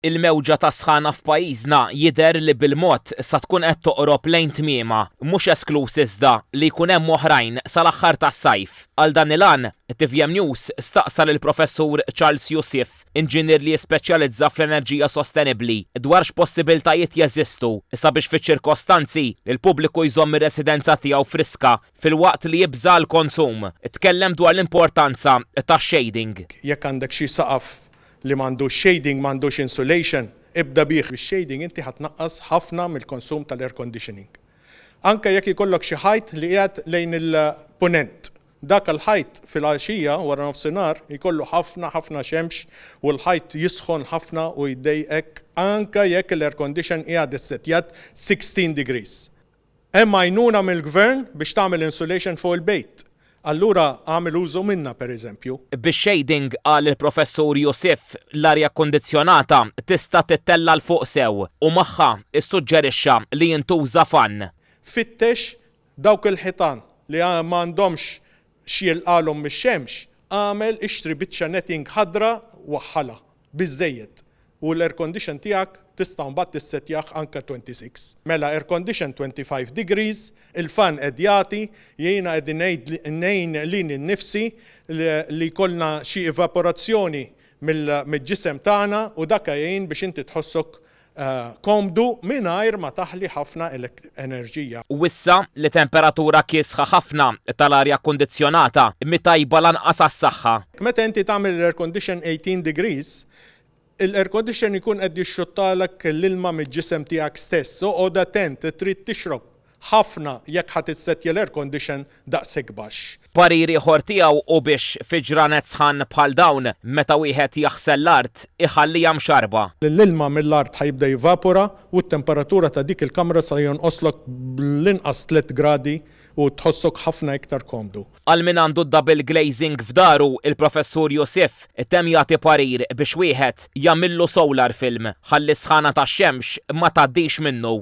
Il-mewġa tas-sħana f'pajjiżna jidher li bil-mod sa tkun qed toqrob lejn tmiemha, mhux eskluż iżda li jkun hemm oħrajn sal-aħħar tas-sajf. Għal dan il-għan, tvm News staqsa lill-Professur Charles Youssif, inġinier li jispeċjalizza fl-enerġija sostenibbli, dwar x'possibiltajiet jeżistu sabiex fiċ-ċirkostanzi li l-pubbliku jżomm ir-residenza tiegħu friska filwaqt li jibża' għall-konsum. Tkellem dwar l-importanza tax-shading. Jekk għandek xi saqaf li m'għandux shading, m'għandux insulation, ibda bih. Bix-shading inti ħa tnaqqas ħafna mill-konsum tal-air conditioning. Anke jekk ikollok xi ħajt li qiegħed lejn il-Punent, dak il-ħajt filgħaxija, wara nofsinhar, jkollu ħafna ħafna xemx u l-ħajt jisħon ħafna u jdejqek anke jekk l-air condition qiegħed issettjat 16 degrees. Hemm għajnuna mill-Gvern biex tagħmel insulation fuq il-bejt. Allura agħmel użu minnha pereżempju. Bix-shading, qal il-Professur Youssef, l-arja kkundizzjonata tista' tittella' 'l fuq sew u magħha ssuġġerixxa li jintuża fann. Fittex dawk il-ħitan li m'għandhomx x'jilqgħalhom mix-xemx, agħmel ixtri biċċa netting ħadra waħħalha biżżejjed u l-air condition tiegħek tista' mbagħad tissettjah anke 26. Mela air condition 25 degrees, il-fan qed jagħti, jiena qegħdin ngħid ngħin lili nnifsi li jkollna xi evaporazzjoni mill-ġisem tagħna u dak jgħin biex inti tħossok komdu mingħajr ma taħli ħafna enerġija. U issa li temperatura kiesħa ħafna tal-arja kkundizzjonata mhi tajba lanqas għas-saħħa. Meta inti tagħmel l-air condition 18 degrees, il-air condition ikun qed jixxuttalek l-ilma mill-ġisem tiegħek stess. Oqgħod attent, trid tixrob ħafna jekk ħa tissettja l-air condition daqshekk baxx. Parir ieħor tiegħu hu biex fi ġranet sħan bħal dawn, meta wieħed jaħsel l-art, iħalliha mxarrba. L-ilma mill-art ħa jibda jivapora u t-temperatura ta' dik il-kamra sa jonqoslok bl-inqas tliet gradi u tħossok ħafna iktar komdu. Għal min għandu d-double glazing f'daru, il-Professur Youssef temm jagħti parir biex wieħed jagħmillu solar film ħalli s-sħana tax-xemx ma tgħaddix minnu.